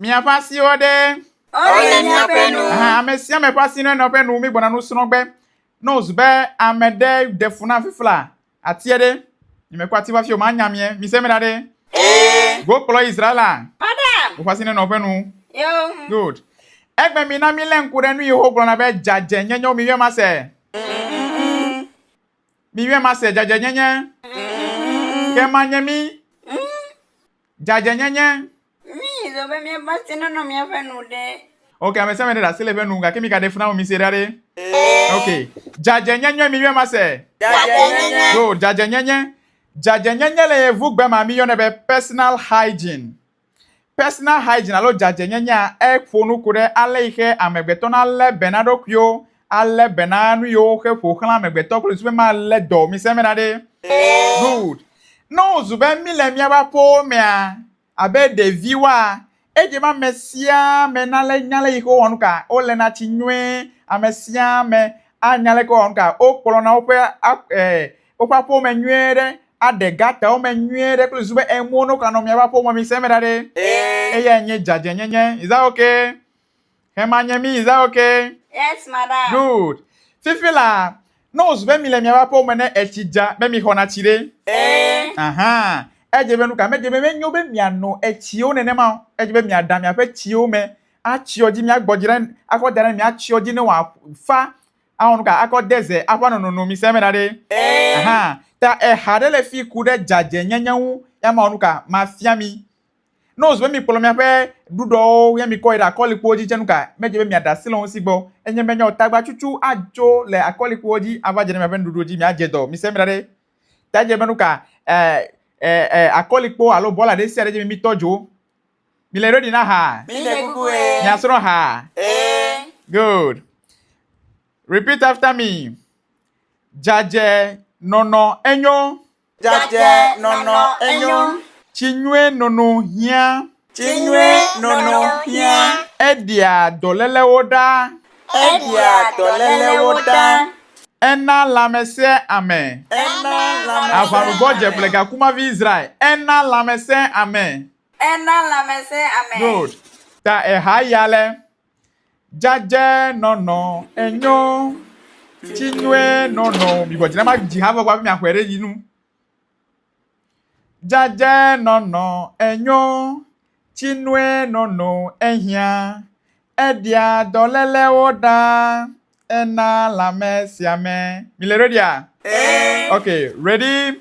Miaƒe asiwo ɖe. Wole míaƒe nu. Ame sia ame ƒe asi nɔ eƒe nu, mígbɔna nu srɔ̃ gbe. Ne wòzu be ame ɖe ɖe fu na fifla atie ɖe, nyemekpɔ ati hafi o, manya mie. Mise me ɖa ɖe. Ee. Go kplɔ Israela. Pada. Woƒe asi nenɔ eƒe nu. Yo. Good. Egbe mi na mílé ŋku ɖe nu Yehowa gblɔna be dzadzɛnyenye wo miwia mase. Miwia mase dzadzɛnyenye. Ke manye mi. Dzadzɛnyenye. Mí zɔ be mía va se nɔnɔ mía ƒe nu ɖe. Ok, ame sia ame ɖe ɖe asi le eƒe nu gake mi gaɖe funa mi se ɖa ɖe. Ok, dzadzɛnyenye mi yɔe ma se. Dzadzɛnyenye. Good, dzadzɛnyenye. Dzadzɛnyenye le yevu gbe ma mi yɔnɛ be personal hygiene. Personal hygiene alo dzadzɛnyenyea eƒo nu ku ɖe ale yi xe amegbetɔ na le be na ɖokuiwo alé be na nu yiwo xe ƒo xlã amegbetɔ kple wòzu be malé dɔwɔmisẽ me na ɖe? Good. Ne wòzu be míle míaƒe aƒewo mea, abe ɖeviwoa, edze be ame sia ame nalé nya le ʋixi wowɔ nuka, woléna tsi nyuie, ame sia ame anya leke wowɔ nuka, wokplɔna woƒe woƒe aƒewo me nyuie ɖe, aɖe gatawo me nyuie ɖe kple wòzu be enuwo ne wokanɔ míaƒe aƒewo me ŋusẽ me ɖa ɖe. Eyae nye dzadzɛnyenye. Is that okay? Hema nye mi, is that okay? Yes, madam. Good. Fifi la, ne wòzu be mi le miaƒe aƒewo me ne etsi dza, be mi xɔna tsi ɖe? Ee. Aha. Edze be nuka? Medze be menyo be miano etsiwo nenema o. Edze be miaɖa miaƒe tsiwo me atsyɔ dzi, miagbɔ dzi ɖe akɔ da ɖe eme, miatsyɔ dzi ne wòafa awɔ nuka? Akɔ de ze aƒã nonono. Mi se eme da ɖe? Ee. Aha. Ta eha ɖe le fi ku ɖe dzadzenyenye ŋu. Ya mawɔ nuka? Mafia mi. Ne wòzu be mikplɔ miaƒe ɖuɖɔwo ye mikɔ yi ɖe akɔlikpowo dzi tse nu kae medze be miaɖe asi le wo ŋuti gbɔ? Enye be nyawo tagbatsutsu atso le akɔlikpowo dzi ava dze ɖe miaƒe nuɖuɖuwo dzi miadze dɔ. Mise eme ɖa ɖe, ɖe edze be nu ka e, e, e, akɔlikpo alo bɔla ɖe sia ɖe dze be mitɔ dzo? Mile ready na ehaa? Mile kuku ɣe. Miasrɔ̃ ehaa? Ee. Good. Repeat after me. Dzadze nɔnɔ enyo. Dzadzɛ nɔnɔ enyo. Tsi nyuie nono hiã. Tsi nyuie nono hiã. Eɖia dɔlélewo ɖa. Eɖia dɔlélewo ɖa. Ena lãmesẽ ame. Ena lãmesẽ ame. Aʋaɖubɔ dze ƒle gakumavi Israel. Ena lãmesẽ ame. Ena lãmesẽ ame. Yod. Ta eha ya lé. Dzadzɛ nɔnɔ enyo, tsi nyuie nɔnɔ o. Mìgɔ dzi na ma dzi ha vɔ kpɔ hafi mìaxɔɛ ɖe yinu. Dzadzɛ nɔnɔ enyo, tsi nyuie nɔnɔ ehiã. Eɖia dɔlélewo ɖa, ena lãmesiame. Mìle redia? Ɛ. Ok, ready,